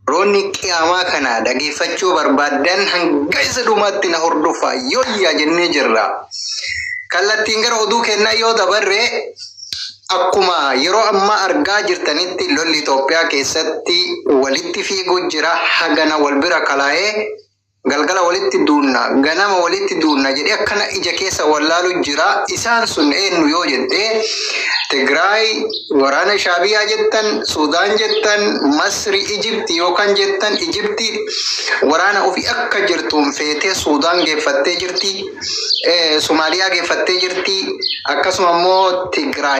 Roonni qiyaamaa kana dhageeffachuu barbaaddan hanga isa dhumaatti na hordofaa yooyyaa jennee jirra. Kallattiin gara oduu kennaa yoo dabarre akkuma yeroo ammaa argaa jirtanitti lolli Itoophiyaa keessatti walitti fiiguu jira hagana wal bira kalaa'ee Galgala walitti duunna, ganama walitti duunna jedhee akkana ija keessa wallaalu jira. Isaan sun eenyu yoo jette Tigraay waraana Shaabiyaa jettan, Suudaan jettan, Masri, Ijipti yookaan jettan Ijipti waraana ofii akka jirtuun feetee Suudaan geeffattee jirti, Somaaliyaa geeffattee jirti, akkasuma immoo Tigraay.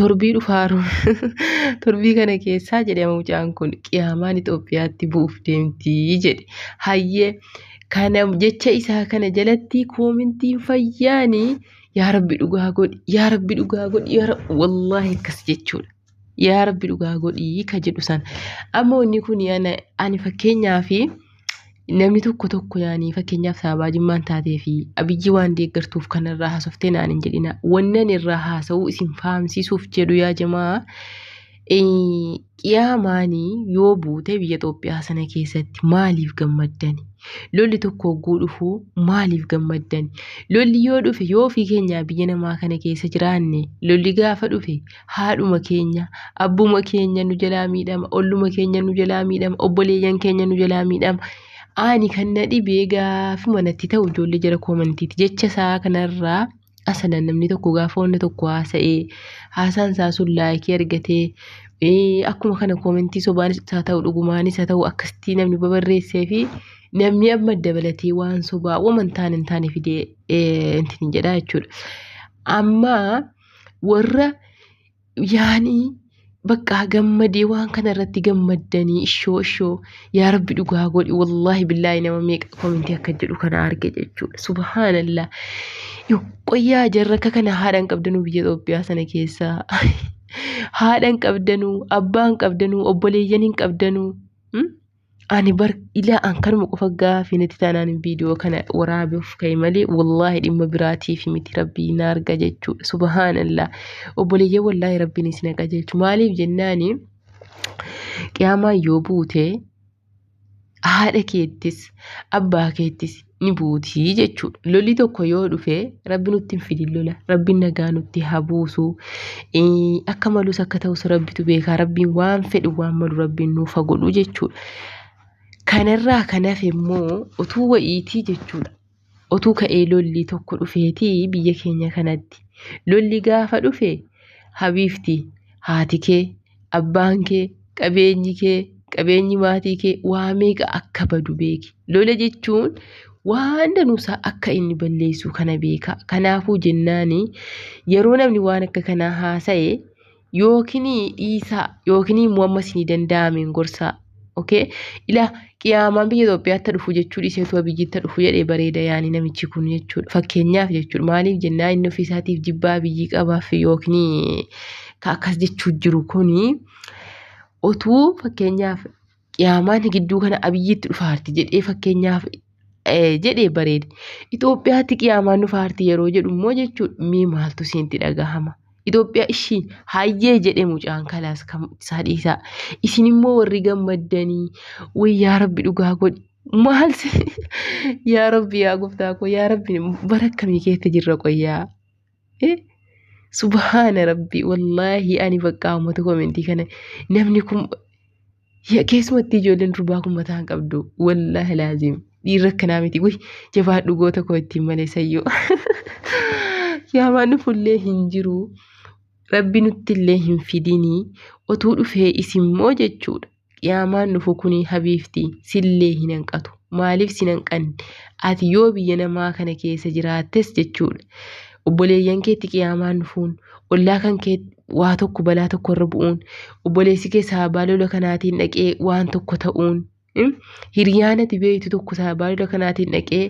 torbii dhufaa torbii kana keessaa jedhe mucaan kun qiyaamaan Itoophiyaatti bu'uuf deemtii jedhe hayyee kana jecha isaa kana jalatti koomintiin fayyaanii yaa rabbi dhugaa godhi yaa rabbi dhugaa godhi yaa rabbi wallaahi akkas jechuudha. Yaa rabbi dhugaa godhii ka jedhu sana ammoo inni kun ani fakkeenyaa fi namni tokko tokko yaanii fakkeenyaaf saabaa jimmaan taatee fi abiyyi waan deeggartuuf kan irraa haasoftee naan hin jedhina wannan irraa haasa'uu isin fahamsiisuuf jedhu yaa jamaa qiyaamaanii yoo buute biyya Itoophiyaa sana keessatti maaliif gammaddani lolli tokko hogguu dhufuu maaliif gammaddani lolli yoo dhufe yoo ofii keenyaa biyya namaa kana keessa jiraanne lolli gaafa dhufe haadhuma keenya, abbuma keenya nu jalaa miidhama, olluma keenya nu jalaa miidhama, obboleeyyan keenya nu jalaa miidhama. Ani kan na dhibe gaafuma natti ta'u ijoollee jara koomantiiti. Jecha isaa kanarraa asalan namni tokko gaafa wanna tokko haasa'ee haasaan isaa sun laayikii argatee ee, akkuma kana koomentii sobaanis haa ta'u dhugumaanis haa ta'u akkasitti namni babarreessee fi namni amma dabalatee waan sobaa waman taane hin taane fidee ee, intin jedhaa jechuudha. Amma warra yaanii baqqaa gammadee waan kana irratti gammaddanii ishoo ishoo yaa rabbi dhugaa godhi wallaahi billaahi nama meeqa komintii akka jedhu kana arge jechuudha subhaanallah qoyyaa jarra akka kana haadhaan qabdanuu biyya Itoophiyaa sana keessaa haadhaan qabdanuu abbaan qabdanuu obboleeyyan hin qabdanuu ani bar ilaa an kanuma qofa gaafii natti taanaan viidiyoo kana waraabuuf ka'e malee wallaahi dhimma biraatiif miti rabbii na arga jechuudha subhaanallah obboleeyyan wallaahi rabbiin isin haqa jechu maaliif jennaani qiyaamaan yoo buute haadha keettis abbaa keettis ni buuti jechuudha. Lolli tokko yoo dhufe rabbi nutti hin fidin lola. Rabbiin nagaa nutti haa buusu. Akka malus akka ta'us rabbitu beekaa. Rabbiin waan fedhu waan malu rabbiin nuuf haa godhu jechuudha. Kanarraa kan hafe immoo utuu wa'iitii jechuudha. Utuu ka'ee lolli tokko dhufeetii biyya keenya kanatti. Lolli gaafa dhufe habiifti haati kee abbaan kee qabeenyi kee qabeenyi maatii kee waa meeqa akka badu beeki lola jechuun waan danuusaa akka inni balleessu kana beeka kanaafuu jennaani yeroo namni waan akka kanaa haasa'e yookiin dhiisaa yookiin immoo ammas ni danda'ameen gorsaa Okay? Ila qiyaamaan biyya Itoophiyaatti dhufu jechuu dhiiseetu abiyyiitti dhufu jedhee bareeda yaanii namichi kun jechuudha. Fakkeenyaaf jechuudha maaliif jennaa inni ofiisaatiif jibbaa abiyyii qabaaf yookiin ka akkas jechuu jiru kuni otuu fakkeenyaaf qiyaamaan gidduu kana abiyyiitti dhufaarti jedhee fakkeenyaaf jedhee bareede. Itoophiyaatti qiyaamaan nu faarti yeroo jedhu immoo jechuudha mee maaltu siinti dhagahama. Itoophiyaa ishii hayyee jedhe mucaan kalaas kan isaa dhiisaa. Isin immoo warri gammaddanii way yaa rabbi dhugaa godhi. Maal yaa rabbi yaa gooftaa koo yaa rabbi bara akkamii keessa jirra qoyyaa. Subhaana rabbi wallaahi ani bakka uummata komentii kana namni kun keessumatti ijoolleen durbaa kun mataa hin qabdu wallaahi laazim dhiirri akkanaa miti wayy jabaadhu goota koo ittiin malee sayyoo yaamaan fullee hin jiru rabbi nutti illee hin fidinii otuu dhufee isimmoo jechuudha. Qiyaamaan dhufu kuni habiibti sillee hin hanqatu. Maaliif sin hanqanne? Ati yoo biyya namaa kana keessa jiraattes jechuudha. Obboleeyyan keetti qiyaamaan dhufuun, ollaa kan kee waa tokko balaa tokko irra bu'uun, obboleessi kee sababaa lola kanaatiin dhaqee waan tokko ta'uun, hiriyaan ati beektu tokko sababaa lola kanaatiin dhaqee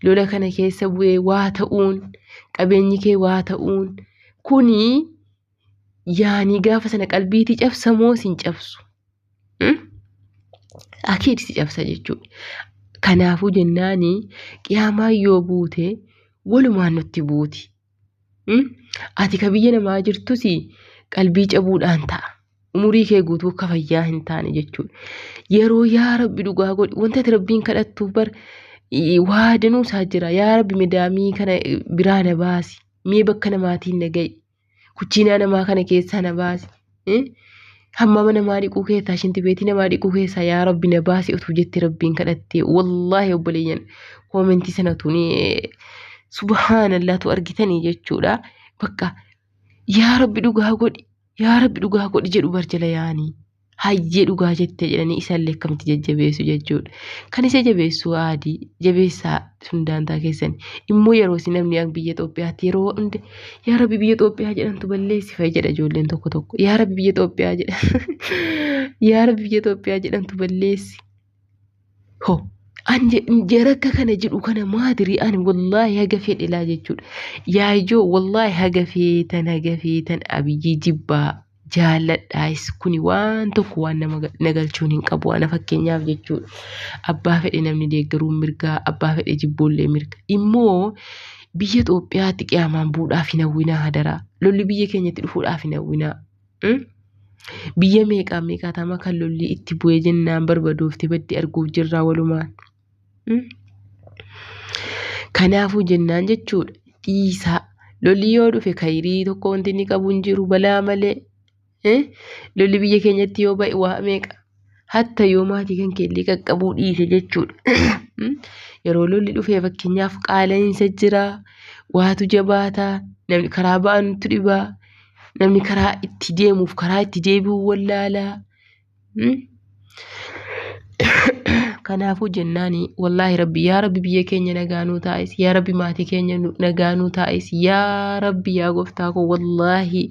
lola kana keessa bu'ee waa ta'uun, qabeenyi kee waa ta'uun kuni yaanii gaafa sana qalbiitii cabsa moo sin cabsu? Hmm? Akiid si cabsa jechuudha. Kanaafuu jennaani qiyaamaa yoo buute walumaan nutti buuti. Hmm? Ati ka biyya namaa jirtus qalbii cabuudhaan ta'a. Umurii kee guutuu akka fayyaa hin taane jechuudha. Yeroo yaa rabbi dhugaa godhi wanta ati rabbiin kadhattuuf bar i- waa danuu isaa jira. Yaa rabbi midaamii kana biraa na baasi. Mee bakka namaatiin na ga'i. Kuchiinaa namaa kana keessaa na baasi. Eh? Hammama namaa dhiquu keessaa, shinti beetii namaa dhiquu keessaa yaa rabbi na baasi utuu jettee rabbiin kadhattee. Wallaahi obboleeyyan koomentii sana utuu ni eh, subhaanallaa tu argitanii jechuudha. Bakka yaa rabbi dhugaa godhi, yaa rabbi dhugaa godhi jedhu barjala yaanii. hayyee dhugaa jette jedhanii isallee akkamitti jajjabeessu jechuudha. Kan isa jabeessu aadii jabeessaa sun daantaa keessan immoo yeroo si namni an biyya Itoophiyaatti yeroo hunda yaa rabbi biyya Itoophiyaa jedhantu balleessi fa'i jedha ijoolleen tokko tokko yaa rabbi biyya Itoophiyaa jedha yaa rabbi biyya Itoophiyaa jedhantu balleessi Ho. An jarakka kana jedhu kana maadiri ani wallaahi haga fedhelaa jechuudha. Yaayoo wallaahi haga feetan haga feetan abiyyii jibbaa jaalladhaayis kuni waan tokko waan nama nagalchuun hin qabu ana fakkeenyaaf jechuudha. Abbaa fedhe namni deeggaruun mirgaa abbaa fedhe jibboollee mirga. Immoo biyya Itoophiyaatti qiyaamaan buudhaaf hin hawwinaa hadaraa. Lolli biyya keenyatti dhufuudhaaf hin hawwinaa. Biyya meeqaa meeqaatama kan lolli itti bu'ee jennaan barbadoofte baddi arguuf jirraa walumaan. Kanaafuu jennaan jechuudha dhiisaa lolli yoo dhufe kayirii tokko wanti inni qabu hin jiru balaa malee lolli biyya keenyatti yoo ba'e waa meeqa hatta yoo maatii kan keellee qaqqabuu dhiise jechuudha. Yeroo lolli dhufee fakkeenyaaf qaala'iinsa jira, waatu jabaata, namni karaa ba'anutu dhiba, namni karaa itti deemuuf karaa itti deebi'u wallaala. Kanaafuu jennaan wallaahi rabbi yaa rabbi biyya keenya nagaa nuu taa'is yaa rabbi maatii keenya nagaa nuu taa'is yaa rabbi yaa gooftaa koo wallaahi.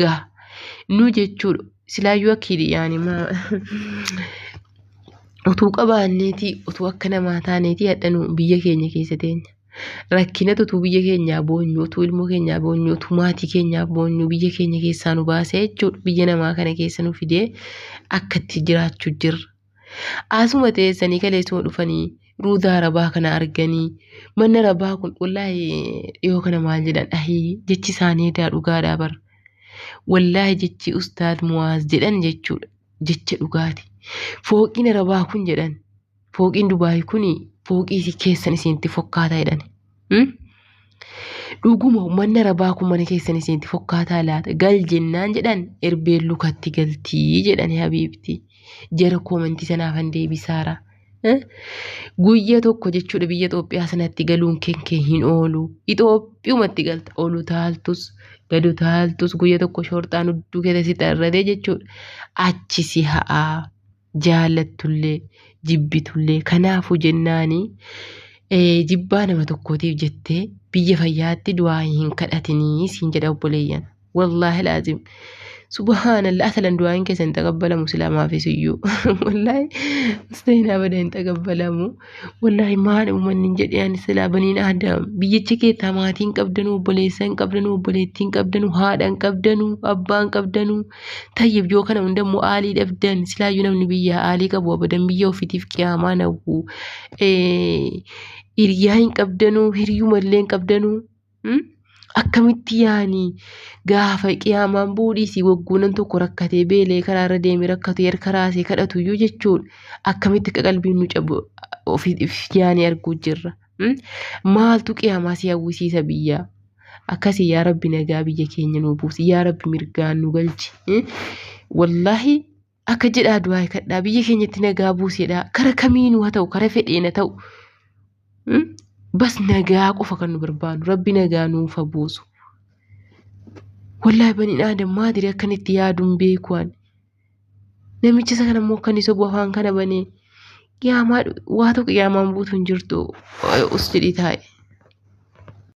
gaha nuu jechuudha silaayyuu akkiidhi yaani maa utuu qabaanneeti utuu akka namaa taaneeti hadhanuu biyya keenya keessa teenya rakkinatu utuu biyya keenyaa boonyu utuu ilmoo keenyaa boonyu utuu maatii keenyaa boonyu biyya keenya keessaa nu baasee jechuudha biyya namaa kana keessa nu fidee akkatti jiraachuu jirra Asuma teessanii kaleessuma dhufanii ruudaa rabaa kana arganii manna rabaa kun wallaahi dhiyoo kana maal jedhan ahii jechi isaanii daa dhugaadhaa bar wallaahi jechi ustaad muwaaz jedhan jechuudha jecha dhugaati fooqiin rabaa kun jedhan fooqiin dubaayi kun fooqii keessan isinitti fokkaataa jedhani. Hmm? Dhuguma uummanni arabaa kun mana keessan isinitti fokkaataa laata? Gal jennaan jedhan erbeen lukatti galtii jedhani habiibti. Jara koomentii sanaafan deebisaara. Eh? Guyya tokko jechuudha biyya Itoophiyaa sanatti galuun keen kee hin oolu. Itoophiyumatti galta. Olu taaltus, gadu taaltus guyya tokko shorxaan hudduu keessa si xarratee jechuudha. Achi si ha'aa. jaallattullee jibbitullee kanaafu jennaani jibbaa nama tokkootiif jettee biyya fayyaatti du'aayi hin kadhatinii siin jedha obboleeyyan wallaahi laazim subhaanallah asalan du'aayin keessa hin xaqabbalamu silaamaafis iyyuu wallaahi musteenaa bada hin xaqabbalamu wallaahi maal uummanni hin jedheen silaa baniin aadam biyyicha keessaa maatiin qabdanuu obboleessa hin qabdanuu obboleettiin qabdanuu haadha hin qabdanuu abbaa hin qabdanuu Tayyib yoo kana hunda immoo aalii dhabdan silaayyuu namni biyyaa aalii qabu abadan biyya ofitiif qiyaamaa nawwu hiriyaa hin qabdanuu hiriyuma illee hin qabdanuu akkamitti yaanii gaafa qiyaamaan buudhiisii wagguunan tokko rakkatee beelee karaa irra deemee rakkatee harka raasee kadhatuyyuu jechuun akkamitti akka qalbiin nu cabu ofiif yaanii arguu jirra. Maaltu qiyaamaa si hawwisiisa biyyaa? Akkasii yaa rabbi nagaa biyya keenya nuu buusi yaa rabbi mirgaan nu galchi. Wallaahi akka jedhaa du'aa kadhaa biyya keenyatti nagaa buusedha kara kamiinuu haa ta'u kara fedheen haa ta'u. Bas nagaa qofa kan nu barbaadu rabbi nagaa nuuf haa buusu. Wallaahi baniin aadam maadiri akkanitti yaaduun beekuwaan. Namichi isa kana immoo kan isa bu'u afaan kana banee qiyaamaa waa tokko qiyaamaan buutu hin jirtu us jedhii taa'i.